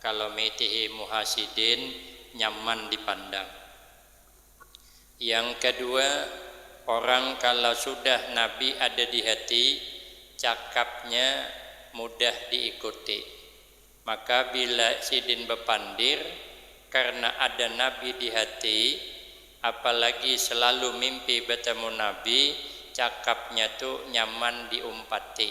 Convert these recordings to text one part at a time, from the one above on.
Kalo mitihi muha sidin nyaman dipandang. Yang kadua, orang kalo sudah Nabi ada di hati, cakapnya mudah diikuti. Maka bila sidin bapandir, karna ada Nabi di hati, apalagi selalu mimpi batamu Nabi, cakapnya tu nyaman diumpati.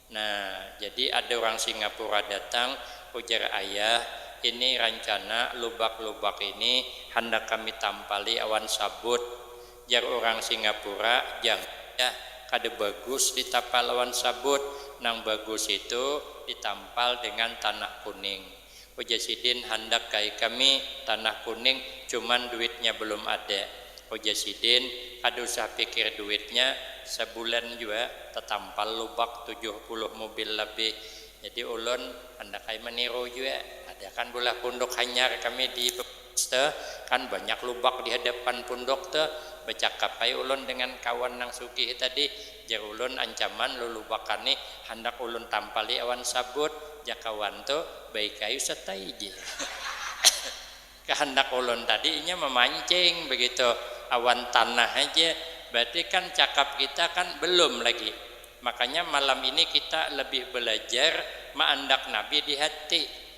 Nah, jadi ada urang Singapura datang, ujar ayah, ini rancana lubak-lubak ini handak kami tampali awan sabut. Jar urang Singapura, jangan jah, kada bagus ditapal awan sabut, nang bagus itu ditampal dengan tanah kuning. Ujar sidin, handak kai kami tanah kuning, cuman duitnya belum ada. Ujar sidin, kada usah pikir duitnya, sebulan jua tetampal lubak tujuh puluh mubil lebih. Jadi ulun handak ai meniru jua, ada kan bulah punduk hanyar kami di. Te, kan banyak lubak di hadapan pundok te, becakap ai ulun dengan kawan nang sugih tadi, jar ulun ancaman lulubakan ni handak ulun tampali awan sabut, jaka wan tu, baik ai ustad tai jar. Kahandak ulun tadi inya memancing begitu awan tanah haja, berarti kan cakap kita kan belum lagi, makanya malam ini kita lebih belajar meandak nabi di hati.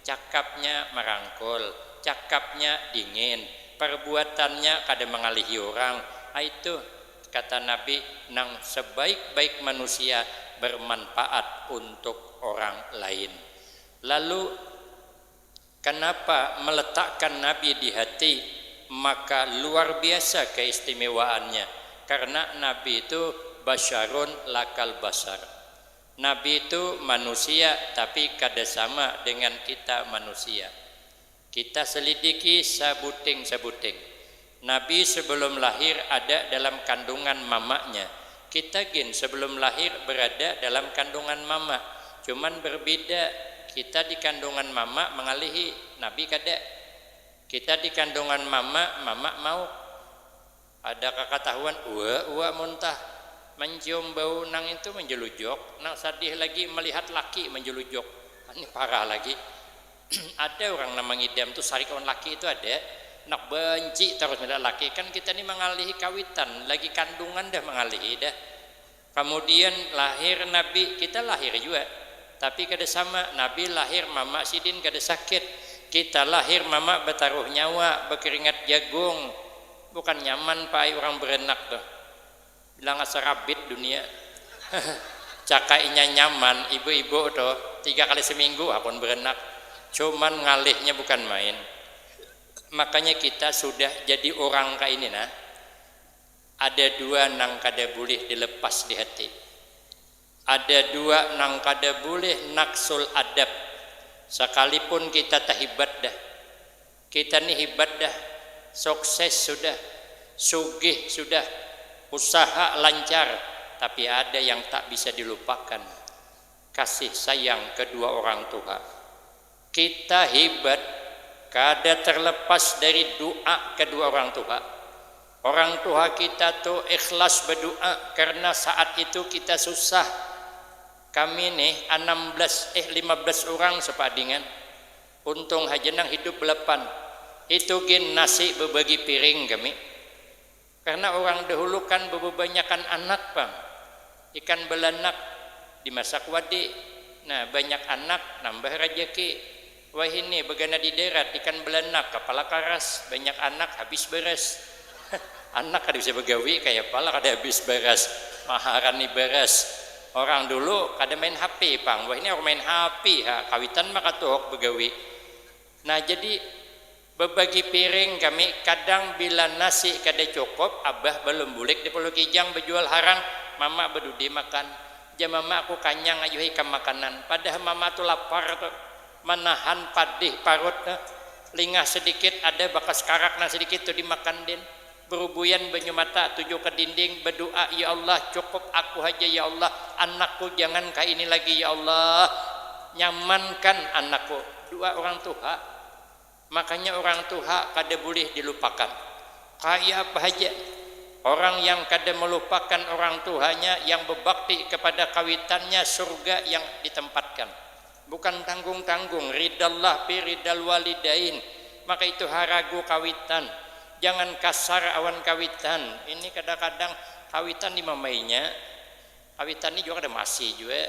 Cakapnya marangkul, cakapnya dingin, parbuatannya kada mangalihi urang, ai tuh kata Nabi nang sabaik-baik manusia barmanpaat untuk orang lain. Lalu kanapa meletakkan Nabi di hati maka luar biasa keistimewaannya karena Nabi itu basyarun lakal basar. Nabi tu manusia tapi kada sama dengan kita manusia. Kita selidiki sabuting-sabuting. Nabi sebelum lahir ada dalam kandungan mamanya, kita gin sebelum lahir berada dalam kandungan mama, cuman berbida kita di kandungan mama mangalihi, Nabi kada. Kita di kandungan mama, mama mauk. Ada kakatahuan ua ua muntah mancium bau nang itu manjulujok, nang sadih lagi malihat laki manjulujok, ni parah lagi. ada urang nang mangidam tu sarik awan laki itu ada, handak banci tarus malihat laki, kan kita ni mangalihi kawitan lagi kandungan dah mangalihi dah. Kamudian lahir nabi, kita lahir jua, tapi kada sama, nabi lahir mama sidin kada sakit, kita lahir mama bataruh nyawa, bakeringat jagung, bukan nyaman pa ai urang baranak tuh, bilang asa rabit dunia, caka inya nyaman, ibu-ibu tuh tiga kali saminggu hakun baranak, cuman ngalihnya bukan main, makanya kita sudah jadi urang kaini nah. Ada dua nang kada bulih dilepas di hati. Ada dua nang kada bulih naksul adab. Sakalipun kita tahibat dah. Kita ni hibat dah, sukses sudah, sugih sudah, usaha lancar, tapi ada yang tak bisa dilupakan, kasih sayang kedua orang tuha. Kita hibat kada terlepas dari du'a kedua orang tuha. Orang tuha kita tu ikhlas bedu'a karena saat itu kita susah. Kami nih anam belas eh lima belas urang sepadingan. Untung haja nang hidup belapan. Itu gin nasi bebagi piring kami. Karna urang dahulu kan bababanyakan anak pang. Ikan balanak dimasak wadi. Nah, banyak anak nambah rajaki. Wahini bagana di darat ikan balanak kapala karas, banyak anak habis baras. Anak kada bisa bagawi kayapa lah kada habis baras. Maharan ni baras. Orang dulu kada main hapi pang, wahini orang main hapi ha, kawitan maka tuhuk bagawi. Nah, jadi. Bebagi piring kami kadang bila nasi kada cukup abah balum bulik di pulau kijang bejual harang mama bedudi makan ja mama aku kanyang ayuh ikam makanan padah mama tu lapar tu manahan padih parut tu lingah sedikit ada bakas karak nang sedikit tu dimakan din berubuian banyu mata tuju ke dinding bedua ya allah cukup aku haja ya allah anak ku jangan ka ini lagi ya allah nyaman kan anak ku dua orang tuha. Makanya urang tuha kada bulih dilupakan. Kaya apa haja, orang yang kada melupakan orang tuhanya yang bebakti kepada kawitannya surga yang ditempatkan. Bukan tanggung-tanggung, ridha Allah pi ridhal walidain. Maka itu ha ragu kawitan, jangan kasar awan kawitan. Ini kadang-kadang kawitan dimamainya. Kawitan ni jua kada masih jua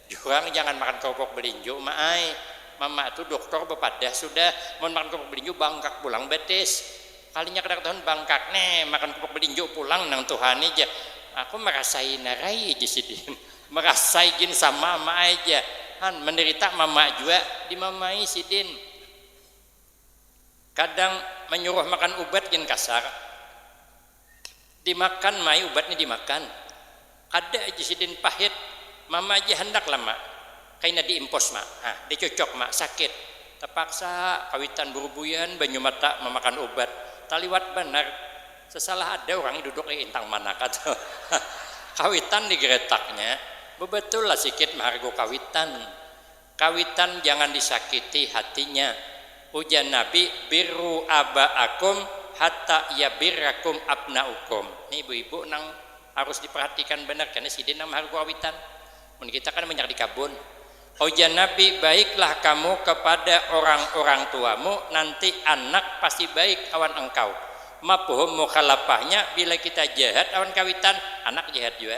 diurang jangan makan kerupuk belinju ma ai, mama tu duktur bepadah sudah mun makan kerupuk belinju bangkak pulang betis, kalinya kada katahuan bangkak ne makan kerupuk belinju pulang nang tuha ni jar aku merasai narai jar sidin, merasai gin sama ma ai jar han menderita mama jua dimamai sidin, kadang menyuruh makan ubat gin kasar. Dimakan mai ubatnya dimakan. Kada aja sidin pahit. Mama aja handak lah mak. Kaina di impos mak. Hah di cucok mak sakit. Tapaksa kawitan burubuian banyu mata mamakan ubat. Taliwat banar. Sasalah ada urang ni duduk ai intang manaka tu. Hah kawitan di gretaknya. Babatul lah sikit mahargu kawitan. Kawitan jangan disakiti hatinya. Ujar Nabi, Birru aba'akum hatta yabirrakum abna'ukum. Ni ibu-ibu nang harus diperhatikan banar kena sidin nang maharu kawitan. Mun kita kan banyak di kabun. Ujar Nabi, Baiklah kamu kepada orang-orang tuamu, nanti anak pasti baik awan engkau. Mafhum mukhalafahnya, bila kita jahat awan kawitan, anak jahat jua.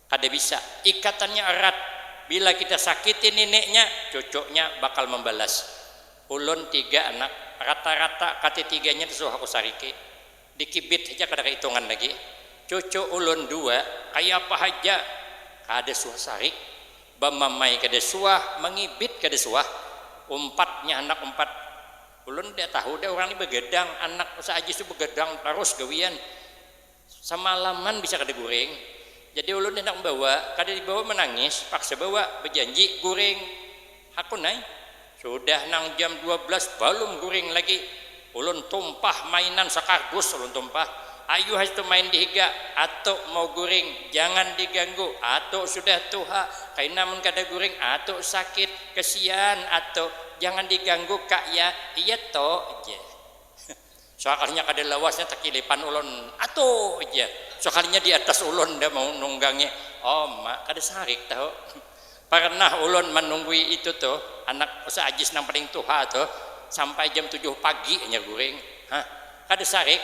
Kada bisa. Ikatannya erat. Bila kita sakiti nineknya, cucuknya bakal membalas. Ulun tiga anak, rata-rata katitiganya disuruh aku sariki. Dikibit haja kada kaitungan lagi. Cucu ulun dua, kayapa haja, kada suah sarik. Bamamai kada suah, mangibit kada suah. Umpatnya handak umpat. Ulun nda tahu dah urang ni begadang, anak saajis tu begadang tarus gawian. Samalaman bisa kada guring, jadi ulun handak membawa, kada dibawa menangis, paksa bawa, bejanji guring, hakun ai. Sudah nang jam dua belas balum guring lagi, ulun tumpah mainan sakardus ulun tumpah, ayu haja tu main dihiga, atu mau guring jangan diganggu, atu sudah tuha kaina mun kada guring atu sakit, kesian atu jangan diganggu kak ya, iya to, jar. Sakalinya kada lawasnya takilipan ulun, Atuh! ujar iya. Sakalinya di atas ulun dah manunggangi. Om, ma, kada sarik tahu. Parnah ulun manunggui itu tuh, anak Ustaz Ajis nang paling tuha tuh, sampai jam tujuh pagi hanyar guring. Hah? Kada sarik?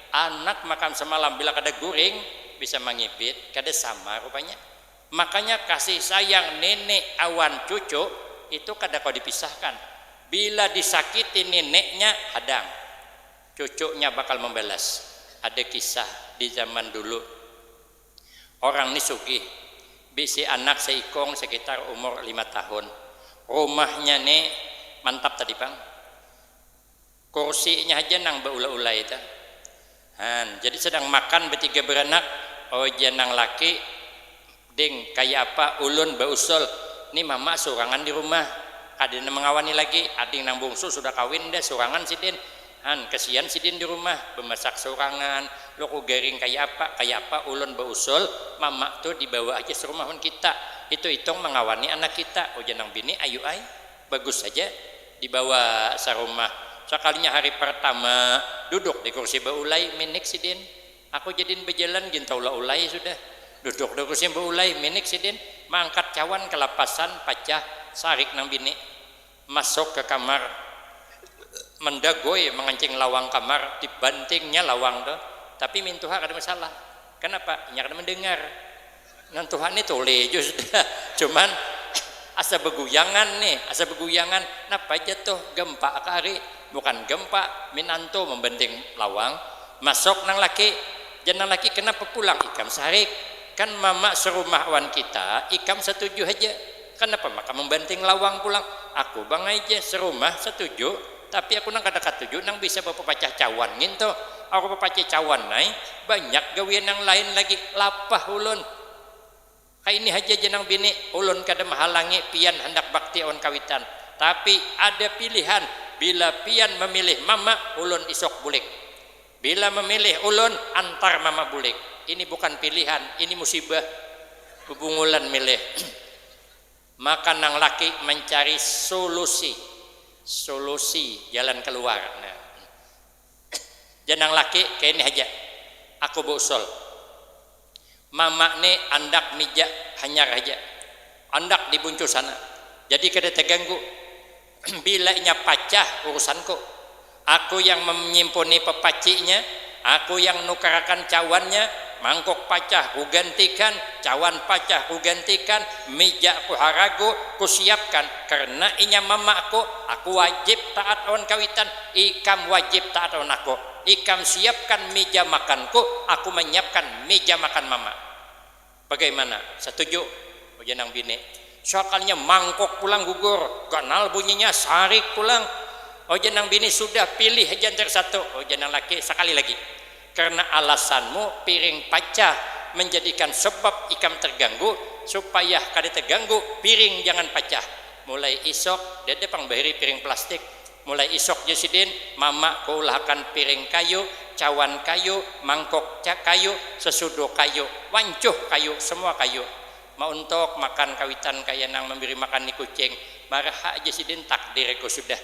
Anak makan samalam bila kada guring, bisa mangibit. Kada sama rupanya. Makanya kasih sayang nenek awan cucu itu kada kawa dipisahkan, bila disakiti neneknya hadang cucunya bakal membalas, ada kisah di zaman dulu orang ni sugih bisi anak seikung sekitar umur lima tahun, rumahnya ni mantap tadi pang. Kursinya haja nang baulai-ulai ta. Han, jadi sedang makan batiga baranak, oja nang laki, Ding, kaya apa ulun bausul, ni mama surangan di rumah, kada nang mangawani lagi, ading nang bungsu sudah kawin dah surangan sidin, han kasian sidin di rumah, bamasak surangan, luku garing kaya apa, kaya apa ulun bausul, mama tu dibawa haja sarumah wan kita, hitung-hitung mangawani anak kita, ujar nang bini, ayu ai. Bagus haja dibawa sarumah. Sakalinya hari partama duduk di kursi baulai, minik sidin. Aku jadin bajalan gin taula ulai sudah. Duduk di kursi baulai, minik sidin. Maangkat cawan kalapasan, pacah. Sarik nang bini. Masuk ka kamar. Mandagoi mangancing lawang kamar. Dibantingnya lawang tu. Tapi mintuha kada masalah. Kanapa? Inya kada mandangar. Nang tuha ni tuli jua sudah, cuman asa beguyangan ni, asa beguyangan, napa ja tuh gempa kah ari, bukan gempa, minantu membenting lawang, masuk nang laki, jar nang laki kenapa pulang ikam sarik, kan mama serumah awan kita, ikam satuju haja, kenapa maka membenting lawang pulang, aku bangai ja serumah satuju. Tapi aku nang kada katuju nang bisa bapapacah cawan ngin tu. Aku bapacah cawan ai, banyak gawian nang lain lagi. Lapah ulun. Kaini haja ja nang bini, ulun kada mahalangi pian handak bakti awan kawitan. Tapi, ada pilihan, bila pian mamilih mama, ulun isuk bulik. Bila mamilih ulun, antar mama bulik. Ini bukan pilihan, ini musibah. Bubungulan milih. Maka nang laki mancari sulusi, solusi, jalan keluar. Nah, jar nang laki kayini haja, aku beusul. Mama ni andak mijak hanyar haja, andak di buncusan, jadi kada teganggu. Bila inya pacah, urusanku. Aku yang manyimpuni pepacinya, aku yang nukarakan cawannya, mangkuk pacah kugantikan, cawan pacah kugantikan, mija kuharagu, kusiapkan, karna inya mamaku, aku wajib taat awan kawitan, ikam wajib taat awan aku, ikam siapkan mija makanku, aku manyiapkan mija makan mama. Bagaimana? Satuju? ujar nang bini. Sakalinya mangkuk pulang gugur, ganal bunyinya, sarik pulang. Ujar nang bini, sudah, pilih haja antar satu. Ujar nang laki, sakali lagi. Karena alasanmu piring pacah menjadikan sebab ikam terganggu, supaya kada terganggu piring jangan pacah. Mulai isuk dada pang bahiri piring plastik. Mulai isok ja sidin, mama kuulahakan piring kayu, cawan kayu, mangkok ca kayu, sesudo kayu, wancuh kayu, semua kayu. Mauntok makan kawitan kaya nang memberi makan ni kucing. Marahak ja sidin, takdir ku sudah.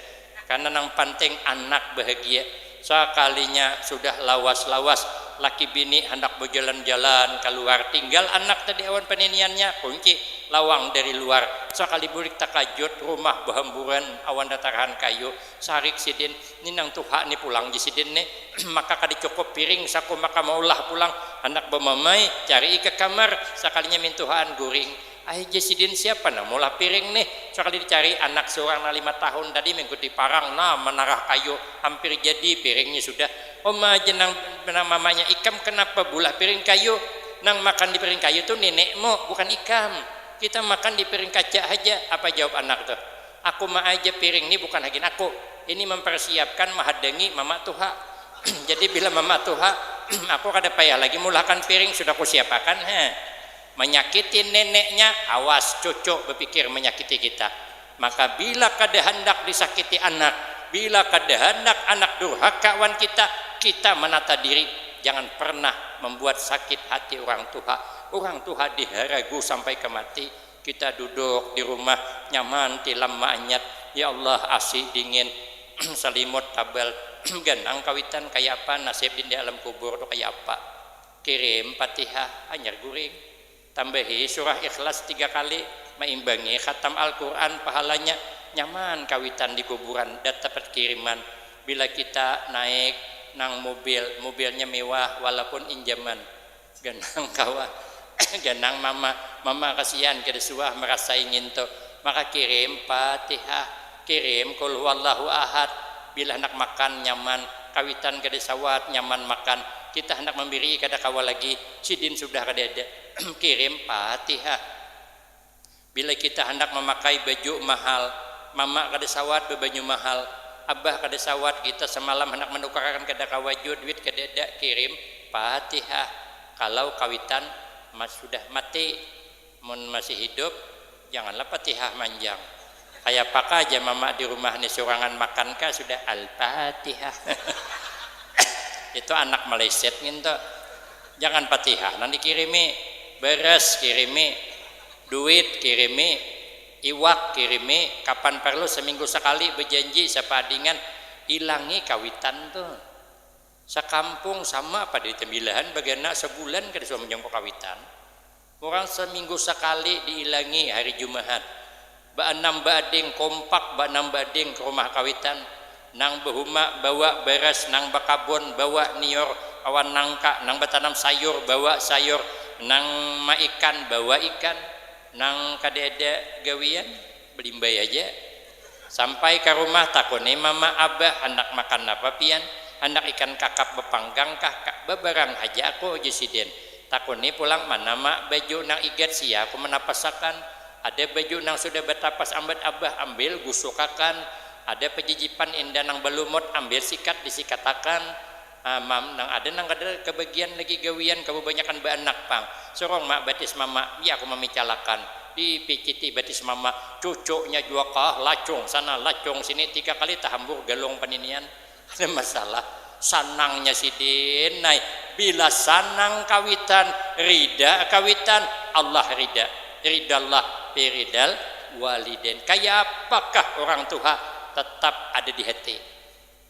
Karena nang panting anak bahagia. Sakalinya sudah lawas-lawas, laki bini handak bajalan-jalan kaluar, tinggal anak tadi awan paniniannya, kunci lawang dari luar. Sakali bulik takajut, rumah bahamburan awan ratarahan kayu. Sarik sidin, ni nang tuha ni pulang ja sidin ni, maka kada cukup piring saku maka maulah pulang, handak bamamai, carii ka kamar, sakalinya mintuhaan guring. Ahi ja sidin siapa nang maulah piring nih, sakali dicari anak seurang nang lima tahun tadi mengikut di parang nah manarah kayu, hampir jadi piringnya sudah. Uma ja nang nang mamanya ikam kenapa beulah piring kayu, nang makan di piring kayu tuh nenekmu bukan ikam, kita makan di piring kaca haja, apa jawab anak tuh, aku ma aja piring nih bukan hagin aku, ini mempersiapkan mahadangi mama tuha, jadi bila mama tuha aku kada payah lagi meulahkan piring sudah kusiapakan ha. Manyakiti neneknya, awas cucu bapikir manyakiti kita. Maka bila kada handak disakiti anak, bila kada handak anak durhaka wan kita, kita manata diri jangan pernah mambuat sakit hati urang tuha. Urang tuha diharagu sampai ka mati. Kita duduk di rumah nyaman tilam maanyat, ya Allah asi dingin, salimut tabal, ganang kawitan kaya apa nasib di alam kubur tu kaya apa. Kirim Fatihah hanyar guring. Tambahi surah Ikhlas tiga kali, maimbangi khatam Al-Qur'an pahalanya. Nyaman kawitan di kuburan datapat kiriman. Bila kita naik nang mubil, mubilnya mewah walaupun injaman. Ganang kawa, ganang mama, mama kasian kada suah marasai nginto. Maka kirim Fatihah. Kirim Qul huwallahu ahad bila handak makan nyaman kawitan kada sawat nyaman makan kita handak mambirii kada kawa lagi sidin sudah kadada kirim Fatihah bila kita handak mamakai baju mahal mama kada sawat babanyu mahal abah kada sawat kita samalam handak manukarakan kada kawa jua duit kadada kirim Fatihah kalau kawitan sudah mati. Mun masih hidup, janganlah patihah manjang. Kayapakah aja mama di rumah ni surangan makan kah sudah Al-Patihah. Itu anak maleset ngintu. Jangan patihah nang dikirimi, beras kirimi, duit kirimi, iwak kirimi, kapan parlu saminggu sakali bajanji sapaadingan hilangi kawitan tu. Sakampung sama apa duit tambilahan bagana sabulan kada suah manjungkuk kawitan. Urang saminggu sakali diilangi hari Jumahat, baanam baading kompak baanam baading ka rumah kawitan, nang bahuma bawa baras, nang bakabon bawa nior, awan nangka, nang batanam sayur bawa sayur, nang maikan bawa ikan, nang kada ada gawian Balimbai aja. Sampai ka rumah takuni mama abah handak makan napa pian? Handak ikan kakap bapanggang kah? Ka, babarang haja aku uju sidin. Takuni pulang mana ma baju nang igat sia aku manapas akan. Ada baju nang sudah batapas ambat abah ambil gusuk akan. Ada pajijipan inda nang balumut ambil sikat disikat akan. Ah mam, nang ada nang kada kabagian lagi gawian kababanyakan baanak pang. Surung mak batis mama, biar aku mamicalakan. Dipiciti batis mama, cucunya jua kah lacung sana lacung sini tiga kali tahambur galung paninian. Kada masalah. Sanangnya sidin ai. Bila sanang kawitan, rida kawitan, Allah rida. Ridallah fi ridal walidain. Kayapakah urang tuha, tetap ada di hati.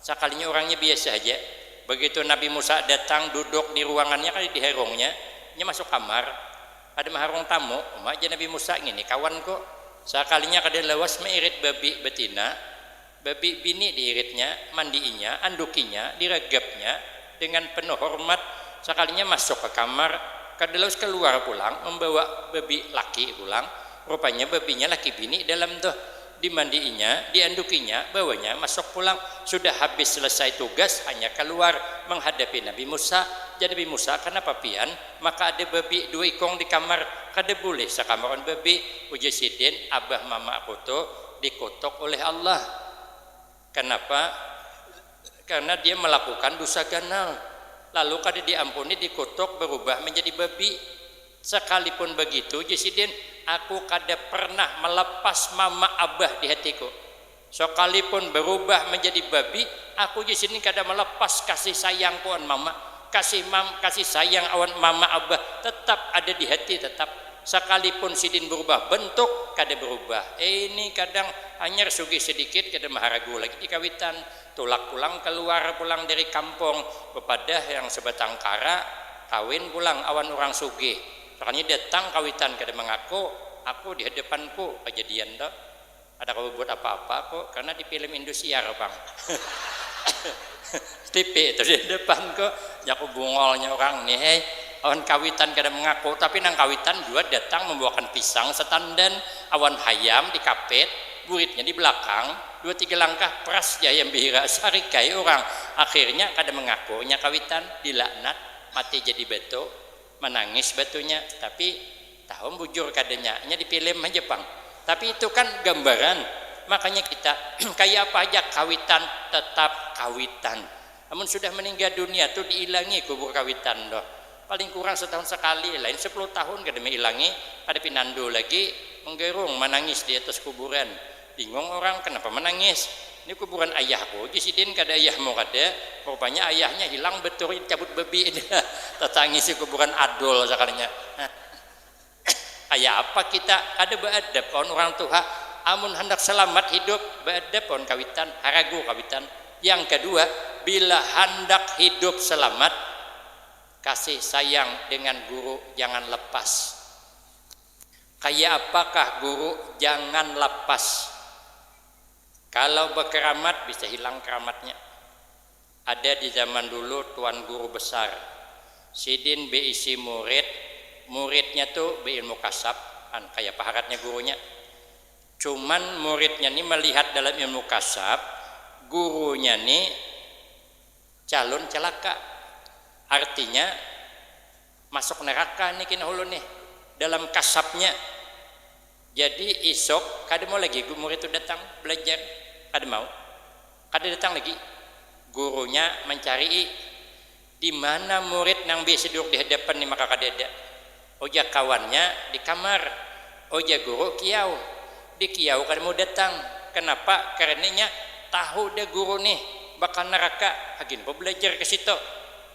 Sakalinya urangnya biasa haja. Begitu Nabi Musa datang duduk di ruangannya kada di harungnya, inya masuk kamar. Kada maharung tamu, uma ja Nabi Musa, ngini kawanku. Sakalinya kada lawas mairit babi batina, babi bini diiritnya, mandiinya, andukinya, diragapnya dengan penuh hormat. Sakalinya masuk ka kamar, kada lawas kaluar pulang mambawa babi laki pulang. Rupanya babinya laki bini dalam tuh. Dimandi'inya, diandukinya, bawanya masuk pulang. Sudah habis selesai tugas, hanya kaluar manghadapi Nabi Musa. Jar Nabi Musa, kanapa pian? Maka ada babi dua ikung di kamar. Kada bulih sakamar wan babi. Ujar Sidin, abah mama aku tu dikutuk uleh Allah. Kanapa? Karna dia malakukan dusa ganal, lalu kada diampuni, dikutuk, barubah manjadi babi. Sakalipun bagitu, jar sidin, aku kada pernah malapas mama abah di hatiku. Sakalipun barubah manjadi babi, aku jar sidin kada malapas kasih sayangku awan mama. Kasih mam kasih sayang awan mama abah tetap ada di hati, tetap. Sakalipun sidin berubah bentuk, kada berubah ini kadang hanyar sugih sedikit kada maharagu lagi di kawitan, tulak pulang kaluar pulang dari kampung, bepadah yang sebatang kara, kawin pulang awan urang sugih, sakalinya datang kawitan kada mangaku, aku di hadapanku, kajadian tu. Kada kawa babuat apa-apa ko, karna di film Indosiar pang. Tipi itu di depan ko, jaku bungolnya urang ni hei. Awan kawitan kada mangaku, tapi nang kawitan jua datang mambawakan pisang satandan, awan hayam di kapit, buritnya di balakang, dua tiga langkah pras ja hayam bihira, sarik ai urang. Akhirnya kada mangaku inya kawitan, dilaknat, mati jadi batu. Manangis batunya tapi tahu bujur kada nya nya di film haja pang tapi itu kan gambaran makanya kita kaya apa haja kawitan tetap kawitan amun sudah meningga dunia tu diilangi kubur kawitan tu paling kurang setahun sekali lain sepuluh tahun kada mailangi kada pinandu lagi menggerung manangis di atas kuburan Bingung urang, kenapa menangis? Ni kuburan ayahku uji sidin, kada ayahmu kada? Rupanya ayahnya hilang beturi dicabut babi. Tatangisi kuburan Adul sakalinya. Kaya apa kita, kada baadab kawan urang tuha. Amun handak salamat hidup, baadab kawan kawitan, haragu kawitan. Yang kadua, bila handak hidup salamat, kasih sayang dengan guru jangan lepas. Kaya apa kah guru jangan lapas. Kalau bakeramat bisa hilang keramatnya. Ada di zaman dulu tuan guru besar. Sidin beisi murid, muridnya tu beilmu kasab, an kaya apa haratnya gurunya. Cuman muridnya ni malihat dalam ilmu kasab, gurunya ni calun calaka. Artinya. Masuk neraka ni kina ulun nih dalam kasapnya. Jadi isok kada mau lagi murid tu datang belajar, kada mau. Kada datang lagi. Gurunya mancarii dimana murid nang biasa duduk dihadapan ni maka kada ada. Ujar kawannya di kamar. Ujar guru kiyau. Di kiyau kada mau datang. Kenapa? Karena inya tahu dah guru nih bakal neraka. Hagin ko belajar kasitu.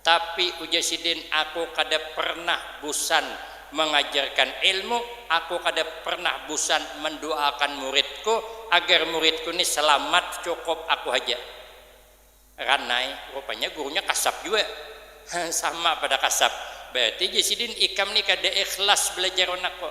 Tapi, ujar sidin, aku kada pernah busan mangajarkan ilmu, aku kada pernah busan manduaakan muridku agar muridku ni salamat, cukup aku haja. Ranai, rupanya gurunya kasap jua. Hah, sama pada kasap. Bararti, jar sidin, ikam ni kada ikhlas balajar anakku.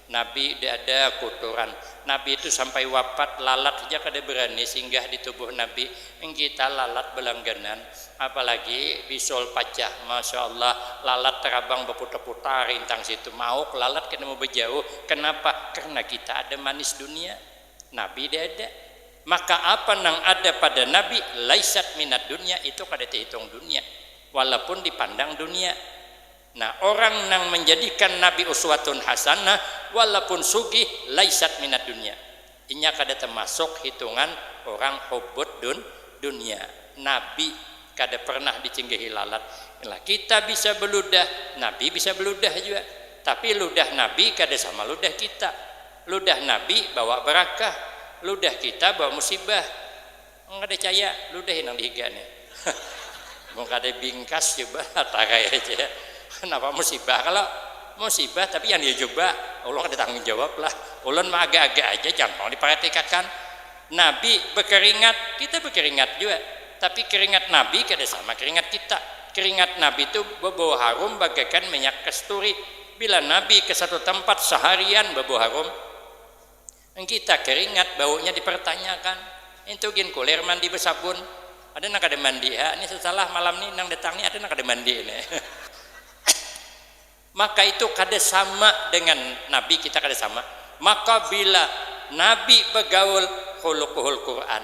Nabi ada kuturan. Nabi tu sampai wapat lalat haja kada berani singgah di tubuh Nabi. Ini kita lalat belangganan. Apalagi bisul pacah. Masya Allah. Lalat terabang baputar-putar intang situ. Mauk lalat kada mau bejauh. Kenapa? Karena kita ada manis dunia. Nabi di ada. Maka apa nang ada pada Nabi, laisat minad dunya, itu kada tehitung dunia. Walaupun dipandang dunia. Nah orang nang manjadikan Nabi uswatun hasanah walaupun sugih laisat minad dunya, inya kada tamasuk hitungan orang hubbud dun dunya, Nabi kada pernah dicinggahi lalat, lah kita bisa baludah Nabi bisa baludah jua, tapi ludah Nabi kada sama ludah kita, ludah Nabi bawa barakah, ludah kita bawa musibah. Nang kada caya, ludahi nang dihiga nih. Mun kada bingkas coba takai aja ya. Napa musibah kalo? Musibah tapi jangan dicoba. Ulun kada tanggung jawab lah. Ulun mah agak-agak aja jangan pang diparatikakan. Nabi bakeringat, kita bakeringat jua. Tapi keringat Nabi kada sama keringat kita. Keringat Nabi tu babau harum bagakan minyak kasturi. Bila Nabi ke satu tampat saharian babau harum. Nggita keringat baunya dipertanyakan. Intu gin kulir mandi besabun. Ada nang kada mandi ha ni setelah malam ni nang datang ni ada nang kada mandi ini. Maka itu kada sama dengan Nabi kita kada sama. Maka bila Nabi begaul khuluquhul Quran.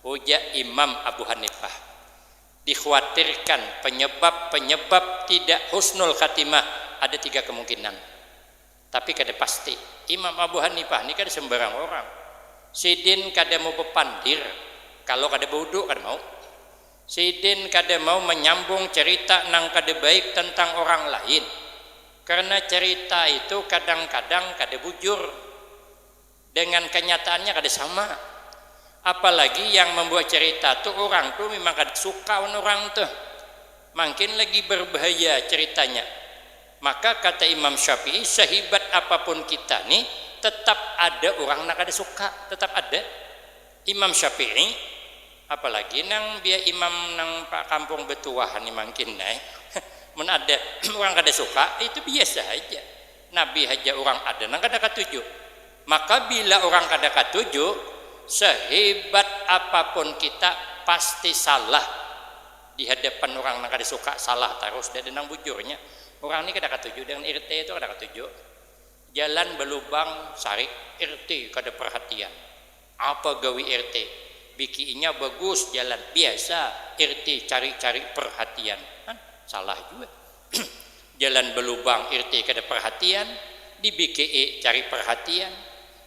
Ujar Imam Abu Hanifah, dikhuatirkan penyebab-penyebab tidak husnul khatimah ada tiga kemungkinan. Tapi kada pasti. Imam Abu Hanifah ni kada sembarang orang. Sidin kada mau bepandir kalo kada bawudhu, kada mau. Sidin kada mau manyambung carita nang kada baik tentang orang lain karena carita itu kadang-kadang kada bujur. Dengan kenyataannya kada sama. Apalagi yang membuat cerita tu urang tu memang kada suka wan urang tu. Mangkin lagi berbahaya ceritanya. Maka kata Imam Syafi'i sehibat apapun kita ni tetap ada urang nang kada suka, tetap ada. Imam Syafi'i, apalagi nang biar imam nang kampung betuah ni mangkin ai. Mun ada urang kada suka itu biasa haja. Nabi haja urang ada nang kada katuju. Maka bila urang kada katuju, sehibat apapun kita pasti salah di hadapan urang nang kada suka, salah tarus. Nda ada nang bujurnya. Urang ni kada katuju dengan RT tu kada katuju. Jalan balubang sarik, RT kada perhatian. Apa gawi RT? Biki inya bagus jalan. Biasa RT cari-cari perhatian. Han, salah jua. Jalan balubang RT kada perhatian, di biki e cari perhatian.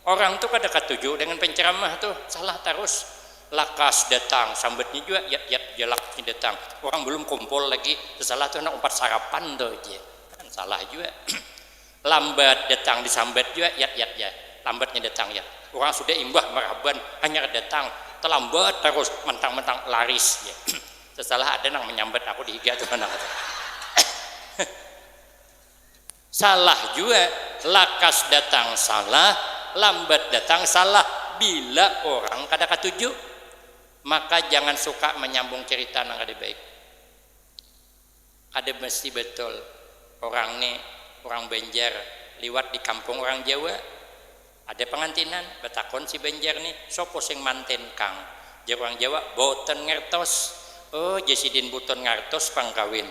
Orang tu kada katuju dengan penceramah tu, salah tarus. Lakas datang sambatnya jua, yap yap ja lakasnya datang. Orang balum kumpul lagi, tesalah tu handak umpat sarapan tu ja. Han, salah jua. Lambat datang disambat jua yat yat ja, lambatnya datang yat, urang sudah imbah marhaban hanyar datang talambat tarus mantang mantang laris ja, sesalah ada nang manyambat aku dihiga tu nang kata salah jua, lakas datang salah, lambat datang salah, bila urang kada katuju maka jangan suka manyambung carita nang kada baik. Kada mesti betul urang ne urang Banjar liwat di kampung urang Jawa. Ada pangantinan, batakon si Banjar ne, sapa sing manten kang? Jar urang Jawa, boten ngertos. Oh, jar sidin buton ngartos pang kawin.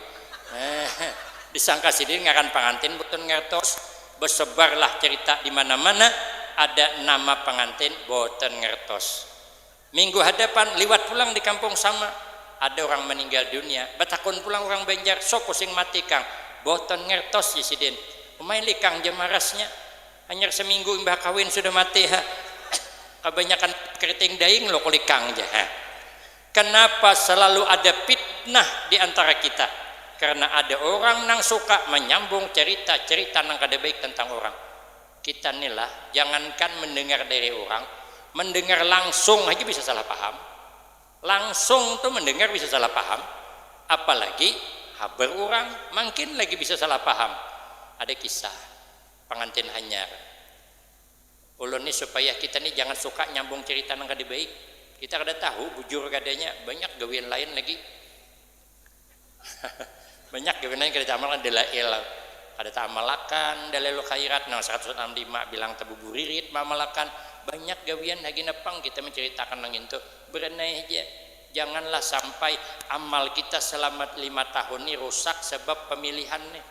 Heh, disangka sidin ngaran pangantin buton ngertos. Besebarlah cerita di mana-mana ada nama pangantin boten ngertos. Minggu hadapan, liwat pulang di kampung sama, ada urang maninggal dunia. Batakun pulang urang Banjar, Sapa sing mati kang? Boton ngertos jar sidin. Umai lih kang jar marasnya. Hanyar saminggu imbah kawin sudah mati ha. Kabanyakan keriting daing lo kulik kang jar ha. Kanapa salalu ada pitnah di antara kita? Karena ada urang nang suka manyambung carita-carita nang kada baik tentang urang. Kita ni lah, jangankan mendengar dari urang, mendengar langsung haja bisa salah paham. Langsung tu mendengar bisa salah paham, apalagi habar urang, mangkin lagi bisa salah paham. Ada kisah pangantin hanyar, ulun ni supaya kita ni jangan suka nyambung cerita nang kada baik, kita kada tahu bujur kadanya, banyak gawian lain lagi. Banyak jua nang kada taamalkan dalail, kada taamalakan dalailul khairat nang saratus walas lawan lima bilang tabuburirit maamalakan. Banyak gawian hagina pang kita mancaritakan nang intu. Baranai haja, janganlah sampai amal kita salama lima tahun ni rusak sabab pamilihan ni.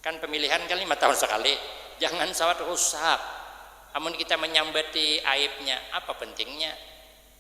Kan pamilihan kan lima tahun sakali. Jangan sawat rusak amun kita manyambati aibnya. Apa pentingnya.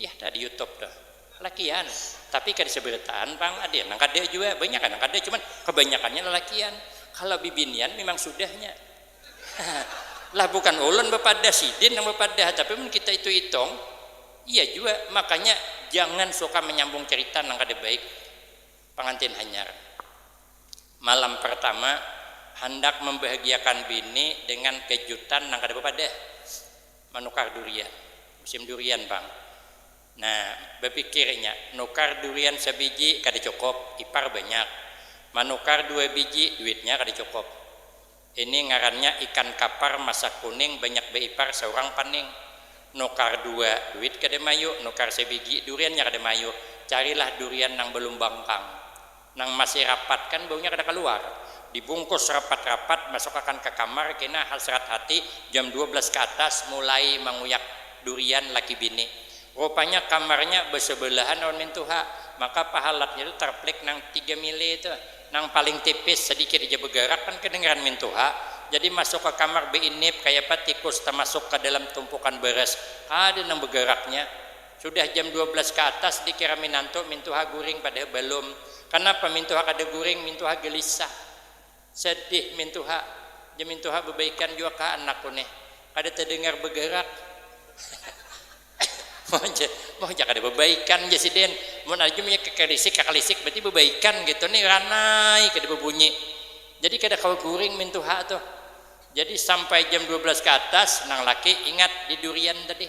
Yah dah di youtube tuh. Lalakian. Tapi kada seberataan pang ada nang kada jua. Banyak nang kada cuman kabanyakannya lalakian. Kalo bibinian mimang sudahnya. Lah bukan ulun bapadah sidin nang bapadah tapi mun kita itu itung iya jua. Makanya jangan suka manyambung carita nang kada baik pangantin hanyar. Malam partama handak mambahagiakan bini dengan kejutan nang kada bapadah. Manukar durian, musim durian pang. Nah, bapikir inya, nukar durian sabiji kada cukup, ipar banyak. Manukar dua biji, duitnya kada cukup. Ini ngarannya ikan kapar masa kuning banyak baipar saurang paning. Nukar dua, duit kada mayu, nukar sabiji, duriannya kada mayu. Carilah durian nang balumbang pang. Nang masih rapat kan baunya kada kaluar. Dibungkus rapat-rapat masukakan ka kamar kena hasrat hati jam dua belas ka atas mulai manguyak durian laki bini. Rupanya kamarnya basabalahan lawan mintu ha, maka pahalatnya tu tarplik nang tiga mili tu, nang paling tipis sadikit haja bagarak kan kadangaran mintu ha. Jadi masuk ka kamar bainip kayapa tikus tamasuk ka dalam tumpukan baras, kada nang bagaraknya. Sudah jam dua belas ka atas dikira minantu mintuha guring padahal balum. Kanapa mintuha kada guring, mintuha gelisah. Sedih mintuha. Jar mintuha babaikan jua kah anakku nih. Kada tadengar bagarak. Mau ja kada babaikan jar sidin. Mun ada jua munnya kakalisik kakalisik berarti babaikan kaytu nih ranai kada babunyi. Jadi kada kawa guring mintuha tuh. Jadi sampai jam dua belas ka atas nang laki ingat di durian tadi.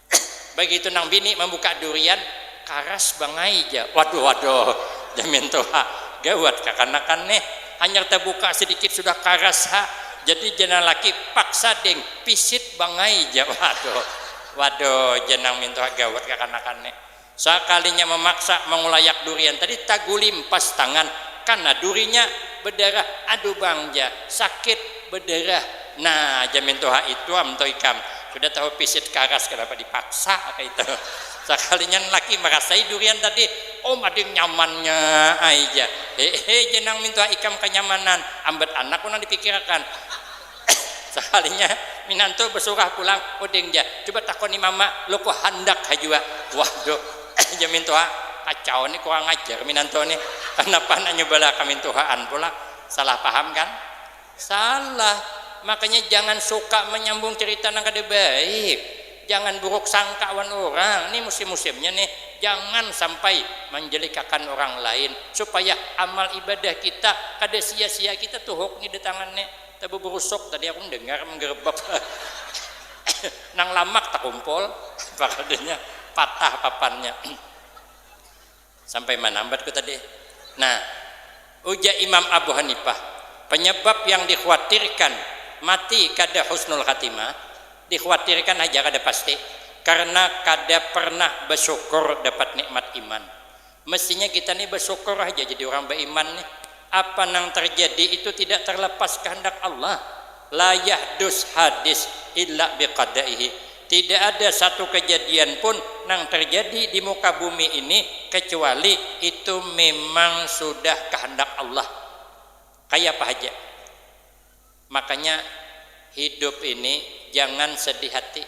Bagitu nang bini mambuka durian, karas bangai ja. Waduh, waduh, jar mintu ha, gawat kakanakan nih. Hanyar tabuka sadikit sudah karas ha. Jadi jar nang laki, paksa ding, pisit bangai ja. Waduh, waduh, jar nang mintu ha, gawat kakanakan nih. Sakalinya mamaksa mangulayak durian tadi tagulimpas tangan kana durinya badarah aduh bang ja sakit badarah nah jamin tuha itu am tu ikam sudah tahu pisit karas kanapa dipaksa kaitu sakalinya laki marasai durian tadi um ading nyamannya ai ja hehe ja nang mintuha ikam kanyamanan ambat anak pun nang dipikirakan. Sakalinya minantu basurah pulang, uding ja, cuba takoni mama luku handak ha jua. Waduh, jar mintuha, kacau ni kurang ajar minantu ni, kanapa handak nyubalah kamintuhaan pulang, salah paham kan? Salah, makanya jangan suka manyambung carita nang kada baik, jangan buruk sangka wan urang, ni musim-musimnya ni jangan sampai manjelikakan urang lain supaya amal ibadah kita kada sia-sia kita tuhuk ni datangan ni. Tabuburusuk tadi aku mendengar menggerebek nang lamak takumpul pakadanya patah papannya sampai mana ambat ku tadi nah ujar imam abu hanifah penyebab yang dikhuatirkan mati kada husnul khatimah dikhuatirkan haja kada pasti karena kada pernah basyukur dapat nikmat iman Mestinya kita nih bersyukur haja jadi urang baiman nih. Apa nang terjadi itu tidak terlepas kehendak Allah. La yahdus hadis illa bi qadaihi. Tidak ada satu kejadian pun nang terjadi di muka bumi ini kecuali itu memang sudah kehendak Allah. Kayapa haja. Makanya hidup ini jangan sedih hati.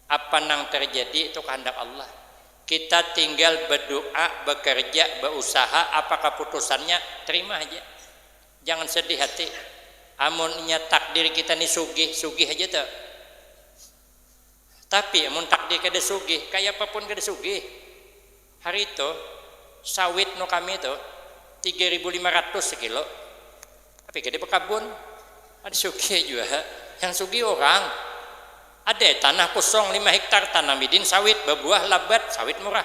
Apa nang terjadi itu kahandak Allah. Kita tinggal bedoa, bekerja, beusaha, apa keputusannya, terima haja. Jangan sedih hati. Amun inya takdir kita ni sugih, sugih haja tu. Tapi amun takdir kada sugih, kayapapun kada sugih. Hari tu, sawit nu kami tu tiga ribu lima ratus sakilo. Tapi kada bakabun. Ada sugih jua. Yang sugih urang. Ada tanah kosong lima hektar tanam i din sawit, babuah labat, sawit murah.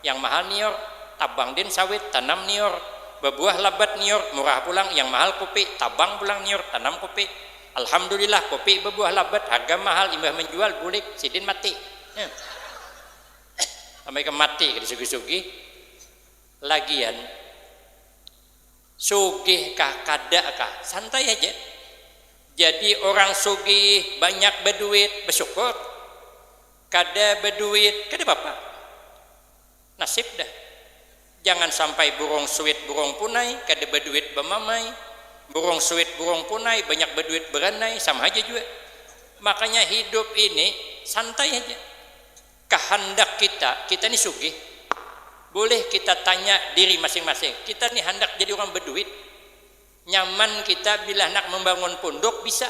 Yang mahal nior, tabang din sawit, tanam nior, babuah labat nior, murah pulang. Yang mahal kopi, tabang pulang nior, tanam kopi. Alhamdulillah kopi babuah labat, harga mahal, imbah manjual bulik, sidin mati. Nah. Sampai ke mati kada sugih-sugih. Lagian sugih kah kada kah santai haja. Jadi orang sugih banyak baduit basyukur, kada baduit kada papa. Nasib dah. Jangan sampai burung suit burung punai kada baduit bamamai, burung suit burung punai banyak baduit baranai sama haja jua. Makanya hidup ini santai haja. Kahandak kita, kita ni sugih? Bulih kita tanya diri masing-masing, kita ni handak jadi urang baduit? Nyaman kita bila handak mambangun punduk bisa,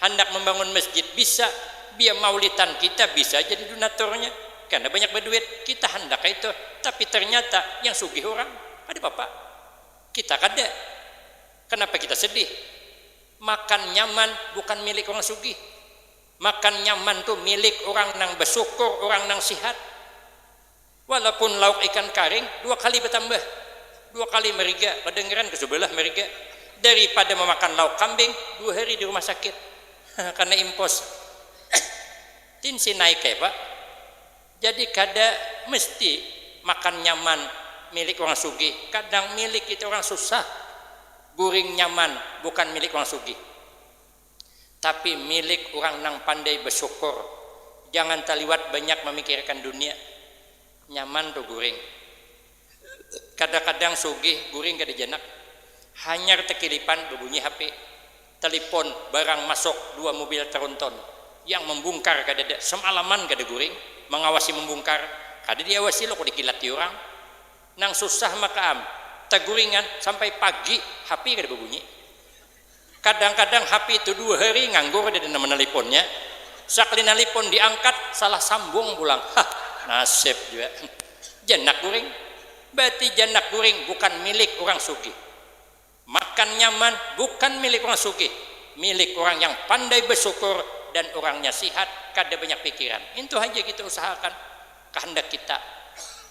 handak mambangun masjid bisa, biya maulitan kita bisa jadi dunaturnya karna banyak baduit, kita handak kaitu, tapi ternyata yang sugih urang, kada papa. Kita kada. Kanapa kita sedih? Makan nyaman bukan milik urang sugih. Makan nyaman tu milik urang nang basukur, urang nang sihat. Walaupun lauk ikan karing dua kali batambah, dua kali mariga, badangaran ka subalah mariga, daripada mamakan lauk kambing dua hari di rumah sakit karna impos. Tin si naik ai pak. Jadi kada mesti makan nyaman milik urang sugih, kadang milik kita urang susah guring nyaman bukan milik urang sugih. tapi milik urang nang pandai basyukur, jangan taliwat banyak mamikirakan dunia, nyaman tu guring, kadakadang sugih guring kada janak, hanyar takilipan babunyi hape, talipon, barang masuk dua mobil tronton, yang mambungkar kadada, samalaman kada guring, mangawasi mambungkar, kada diawasi lo kada kilati urang, nang susah maka am taguringan sampai pagi hape kada babunyi. Kadang-kadang hapi itu dua hari nganggur ja dina manaliponnya, sakali nalipon diangkat salah sambung pulang, hah nasib jua janak guring, berarti janak guring bukan milik urang sugih, makan nyaman bukan milik urang sugih, milik urang yang pandai basyukur dan urangnya sihat kada banyak pikiran, intu haja kita usahakan kahandak kita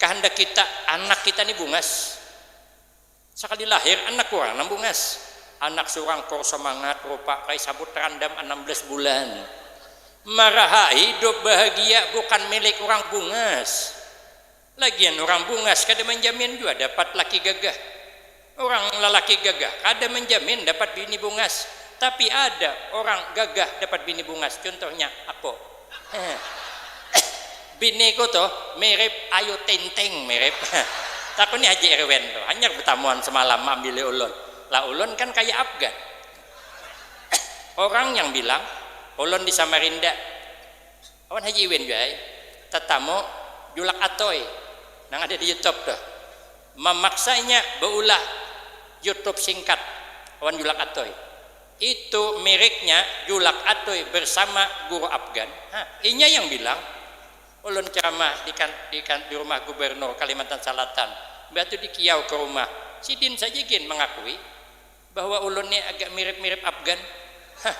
kahandak kita anak kita ni bungas. Sakali lahir anak urang nang bungas. Anak surang kur samangat rupa kai sabut randam anam belas bulan. Maraha hidup bahagia bukan milik urang bungas. Lagian urang bungas kada manjamin jua dapat laki gagah. Urang lalaki gagah kada manjamin dapat bini bungas. Tapi ada urang gagah dapat bini bungas, cuntuhnya aku. Biniku tuh mirip Ayu Ting Ting, mirip. Takuni Haji Irwin tuh, hanyar betamuan semalam maambili ulun. Lah ulun kan kaya Afgan. Orang yang bilang ulun di Samarinda awan Haji Iwin jua ai tetamu Julak Atoy nang ada di Youtube tuh. Memaksanya beulah Youtube singkat awan Julak Atoy. Itu miriknya Julak Atoi bersama Guru Afgan. Ha, inya yang bilang, Ulun ceramah di kan, di kan, di rumah Gubernur Kalimantan Salatan, mbah tu dikiau ke rumah. Sidin saja gin mengakui bahwa ulun ni agak mirip-mirip Afgan. Hah.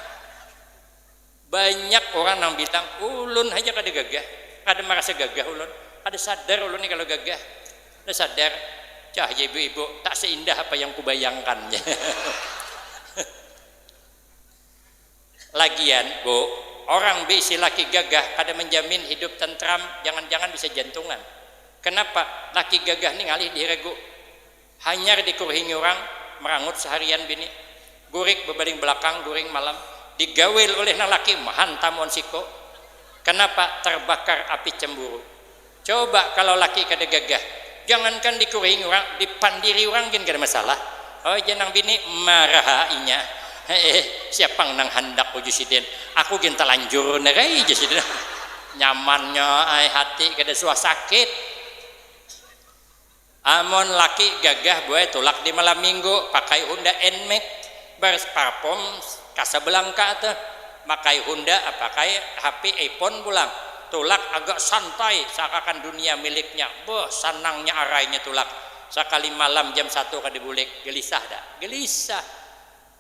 Banyak orang nang bilang, ulun haja kada gagah, kada marasa gagah ulun, kada sadar ulun ni kalo gagah, kada sadar, cah jar ibu-ibu, tak seindah apa yang kubayangkan jar Lagian Bu, orang beisi laki gagah kada menjamin hidup tentram, jangan-jangan bisa jantungan, kenapa laki gagah ni ngalih dihiragu. Hanyar dikurhingi urang, marangut saharian bini. Gurik babaling balakang, guring malam. Digaul ulih nang laki, mahantam wan siku. Kanapa? Tarbakar api camburu. Coba kalau laki kada gagah, jangankan dikurhingi urang, dipandiri urang gin kada masalah. Hoi jar nang bini, marah ha inya. Heeh, siap pang nang handak uju sidin. Aku gin talanjur banar ai, jar sidin. Nyamannya ai hati, kada suah sakit. Amun laki gagah buai tulak di malam minggu pakai honda nmax berparfums casablanca tuh makai honda pakai hp iphone pulang tulak agak santai seakakan dunia miliknya beuh sanangnya arainya tulak sakali malam jam satu kada bulik gelisah dah gelisah.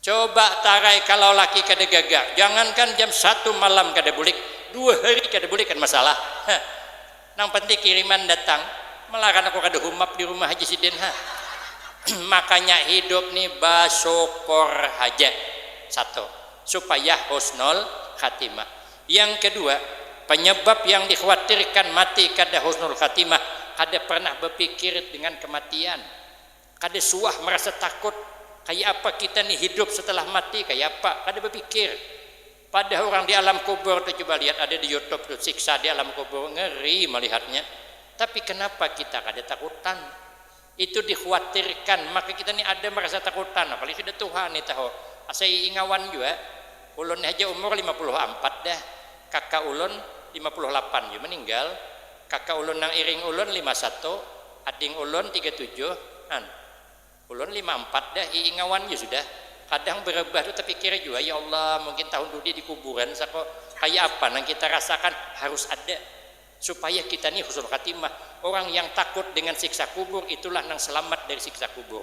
Coba tarai kalau laki kada gaga, jangankan jam satu malam kada bulik, dua hari kada bulik kada masalah ha. Nang penting kiriman datang, malaran aku kada humap di rumah haja sidin ha. Makanya hidup ni basukor haja, satu, supaya husnul khatimah. Yang kedua, penyebab yang dikhawatirkan mati kada husnul khatimah, kada pernah bapikir dengan kematian. Kada suah marasa takut, kaya apa kita ni hidup setelah mati kaya apa, kada bapikir. Padah urang di alam kubur tu cuba lihat ada di youtube tu siksa di alam kubur ngeri malihatnya, tapi kenapa kita kada takutan. Itu di khuatirkan maka kita ni ada marasa takutan apalagi sudah tuha ni tahu asa iingawan jua ulun ni haja umur lima puluh ampat dah kaka ulun lima puluh lapan jua meninggal. Kaka ulun nang iring ulun lima satu, ading ulun tiga tujuh, an. Ulun lima ampat dah ii ngawan ja sudah. Kadang berebah tu tepikir jua, ya Allah mungkin tahun tu di di kuburan sako, kaya apa nang kita rasakan, harus ada. Supaya kita ni husnul khatimah. Orang yang takut dengan siksa kubur itulah nang selamat dari siksa kubur.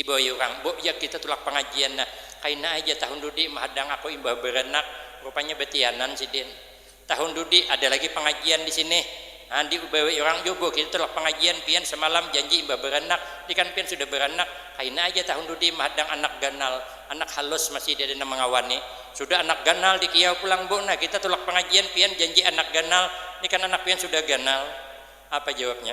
Dibawai urang, Bok jak kita tulak pangajian nah. Kaina ai ja tahun dudi mahadang aku imbah baranak, rupanya batianan sidin. Tahun dudi ada lagi pangajian di sini. Haa dibawai urang jua Bok kita tulak pangajian, pian samalam janji imbah baranak, ni kan pian sudah baranak, kaina ai ja tahun dudi mahadang anak ganal, anak halus masih diada nang mangawani. Sudah anak ganal dikiyau pulang Bok nah kita tulak pangajian, pian janji anak ganal, ni kan anak pian sudah ganal. Apa jawabnya.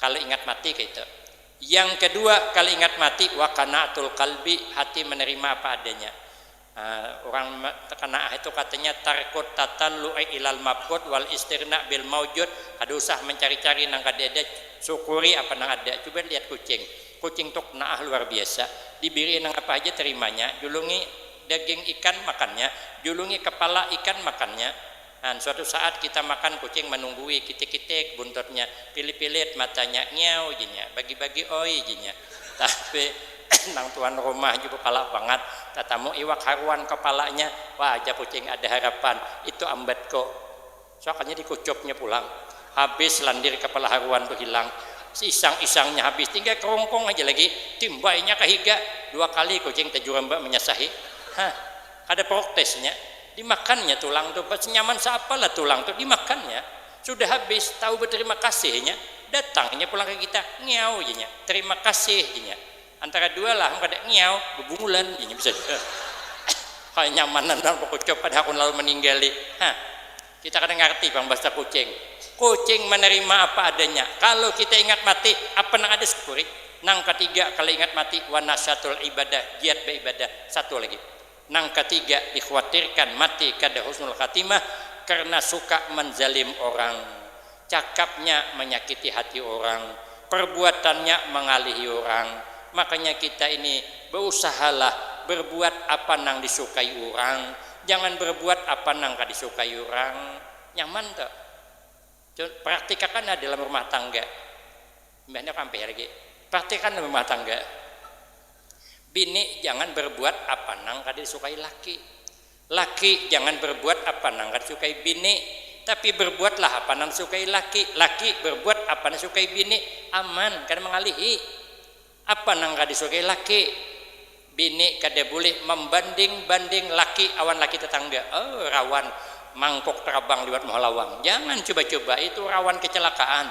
Kalu ingat mati kaitu. Yang kedua kalu ingat mati wa qanaatul qalbi hati menerima apa adanya. Urang qanaah itu katanya tarkut tatallu'i ilal mabqut wal istirna bil maujud, kada usah mencari-cari nang kada ada, syukuri apa nang ada. Cuba lihat kucing, kucing tu qnaah luar biasa. Dibiri nang apa haja terimanya, julungi daging ikan makannya, julungi kepala ikan makannya. An, suatu saat kita makan kucing manunggui, kitik-kitik buntutnya, pilit-pilit matanya, ngiau ji nya, bagi-bagi oi ji nya. Tapi nang tuan rumah juga palak bangat, tatamu iwak haruan kapalanya, wah aja kucing ada harapan, itu ambatku. Suakannya dikucupnya pulang. Habis landir kapala haruan tu hilang. Seisang-isangnya habis, tinggal kerungkung aja lagi. Timbainya ka higa, dua kali kucing tajurambat manyasahi. Hah. Kada proktes nya, dimakan nya tulang tu, pas nyaman saapa lah tulang tu, dimakan nya. Sudah habis, tahu beterima kasih nya, datang inya pulang ka kita, ngiau ja nya, terima kasih ja nya. Antara dua lah am kada ngiau, bebungulan ja nya bisa. Kaya nyamanan banar bekucup pada hakun lalu meninggali. Hah. Kita kada ngarti pang bahasa kucing. Kucing manarima apa adanya. Kalu kita ingat mati, apa nang ada syukuri. Nang katiga, kalu ingat mati, wa nasyatul ibadah, giat baibadah. Satu lagi. Nang katiga, dikhuatirkan mati kada husnul khatimah karena suka manzalim orang. Cakapnya manyakiti hati urang, perbuatannya mangalihi urang, makanya kita ini beusahalah berbuat apa nang disukai urang, jangan berbuat apa nang kada disukai urang, nyaman tu. Praktikakan nah dalam rumah tangga, imbah ini aku ampih lagi, praktikakan dalam rumah tangga, bini jangan berbuat apa nang kada disukai laki, Laki jangan berbuat apa nang kada sukai bini, tapi berbuatlah apa nang disukai laki. Laki berbuat apa nang disukai bini, aman, kada mangalihi apa nang kada disukai laki. Bini kada bulih mambanding-banding laki awan laki tetangga. Oh, rawan mangkuk tarabang liwat muha lawang. Jangan cuba-cuba, itu rawan kecelakaan.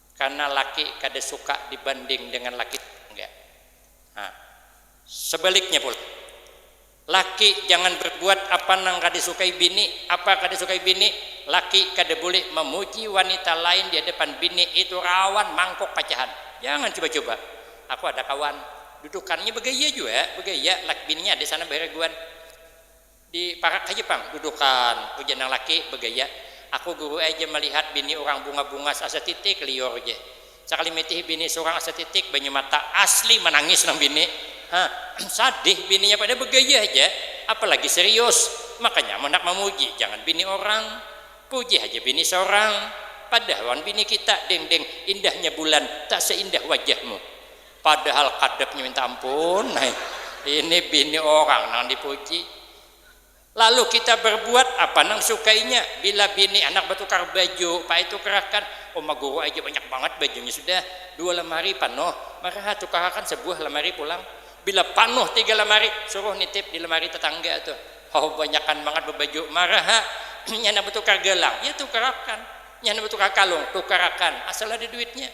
Karna laki kada suka dibanding dengan laki tetangga. Nah, sebaliknya pula, laki jangan berbuat apa nang kada disukai bini. Apa kada disukai bini? Laki kada boleh memuji wanita lain di hadapan bini, itu rawan mangkuk pacahan. Jangan cuba-cuba. Aku ada kawan, dudukannya begaya jua, begaya laki bininya ada sana baharaguan. Di parak haja pang dudukan, ujar nang laki bagaya. Aku guru ai ja malihat bini urang bunga-bungas asa titik, liur ja. Sakali mitihi bini surang asa titik, banyu mata, asli manangis nang bini. Ha, sadih bininya pada bagaya haja, apalagi serius. Makanya amun handak mamuji, jangan bini orang. Puji haja bini sorang. Padah lawan bini kita, Deng-deng, indahnya bulan tak seindah wajahmu. Padahal kadapnya minta ampun nai, ini bini orang nang dipuji. Lalu kita berbuat apa nang disukainya, bila bini anak batukar baju, paai tukarakan, uma guru ai ja banyak bangat bajunya sudah, dua lamari panuh, maraha tukarakan sabuah lamari pulang, bila panuh tiga lamari, suruh nitip di lamari tatangga tu, haw banyakan bangat babaju, maraha nya handak batukar galang, ya tukarakan, nya handak batukar kalung, tukarakan, asal ada duitnya.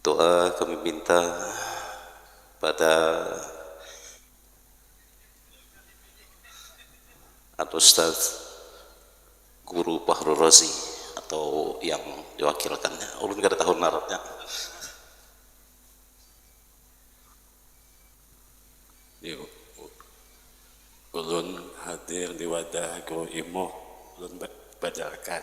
Doa kami minta pada Al Ustaz Guru Bahrul Razi atau yang diwakilkannya. Ulun kada tahu ngarannya. Ulun hadir di wadah Guru Imuh, ulun bajarkan.